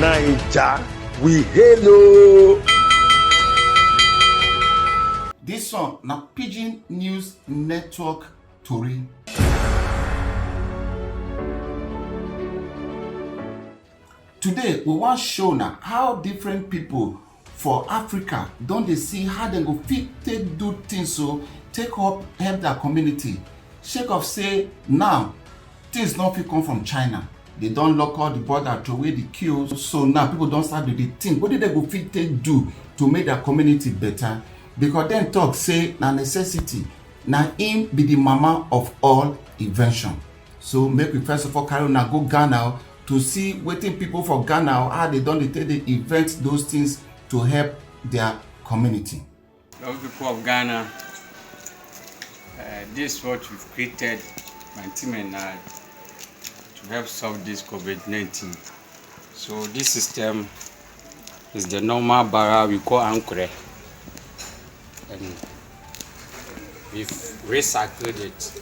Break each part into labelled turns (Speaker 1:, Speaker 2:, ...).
Speaker 1: naija we hail o. dis one na pidgin news network tori. Today we wan show una how different people for Africa don dey see how dem go fit take do things so take help help their community sake of say now things no fit come from China. They don lock all the border to away the queue so now people don start to dey think wetin dem go fit take do to make their community better because dem talk say na necessity na im be the mama of all invention. So make we first of all carry una go Ghana to see wetin people for Ghana or how they don dey take dey invent those things to help their community. Love people of Ghana, uh, this what we've created, my team and I, to help solve this COVID-19. So this system is the normal barra we call ankure. And we've recycled it.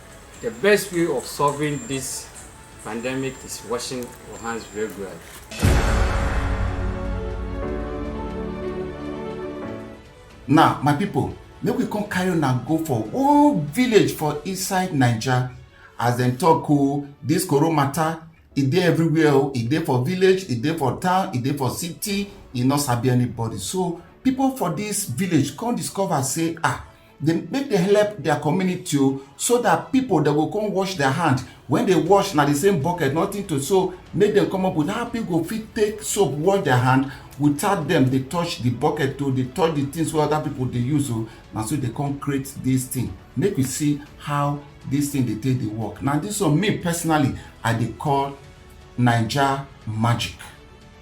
Speaker 1: The best way of solving this pandemic is washing your hands regularly. Now, my people, make we come carry una go for one village for inside Naija. As dem talk o, this koro matter, e dey everywhere o. E dey for village, e dey for town, e dey for city, e no sabi anybody. So, people for this village come discover say, ah, dem make dem help their community o so that people dem go come wash their hand when they wash na the same bucket nothing to so make dem come up with how people go fit take soap wash their hand without dem dey touch the bucket o dey touch the things wey other people dey use o na so dey come create this thing make we see how this thing dey take dey work na this one me personally i dey call naija magic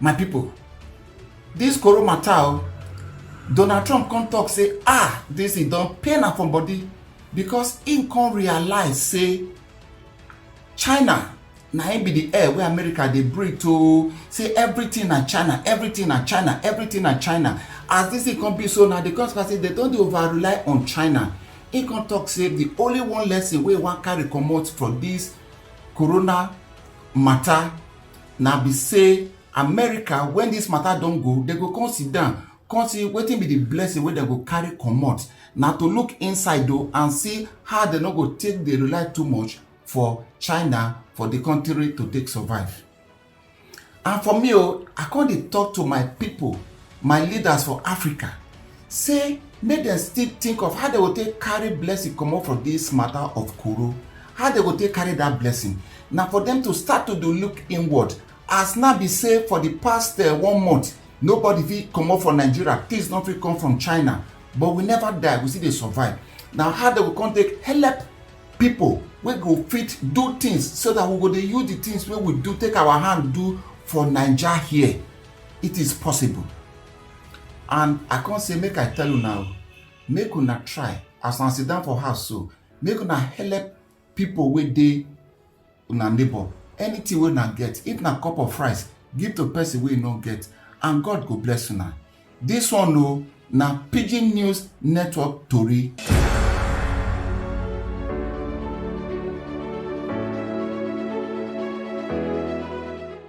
Speaker 1: my people this corona matter oh, donald trump come talk say ah this thing don pain am for body because im come realize say china na im be the air wey america dey breathe oo say everything na china everything na china everything na china as this thing come be so na the consequence say dem don dey over rely on china im come talk say the only one lesson wey e wan carry comot from this corona matter na be say america when this matter don go dem go come sit down come see wetin be the blessing wey dem go carry comot na to look inside o and see how dem no go take dey rely too much for china for the country to take survive and for me oh, i come dey talk to my people my leaders for africa say make dem still think of how dem go take carry blessing comot for this matter of koro how dem go take carry that blessing na for them to start to dey look inward as na be say for the past uh, one month nobody fit comot for nigeria things no fit come from china but we never die we still dey survive na how dem go come take help pipo wey go fit do things so that we go dey use the things wey we do take our hand do for naija here it is possible and i come say make i tell una o make una try as una sit down for house so make una help pipo wey dey una neighbor anything wey una get if na cup of rice give to person wey no get and god go bless una dis one o na pidgin news network tori.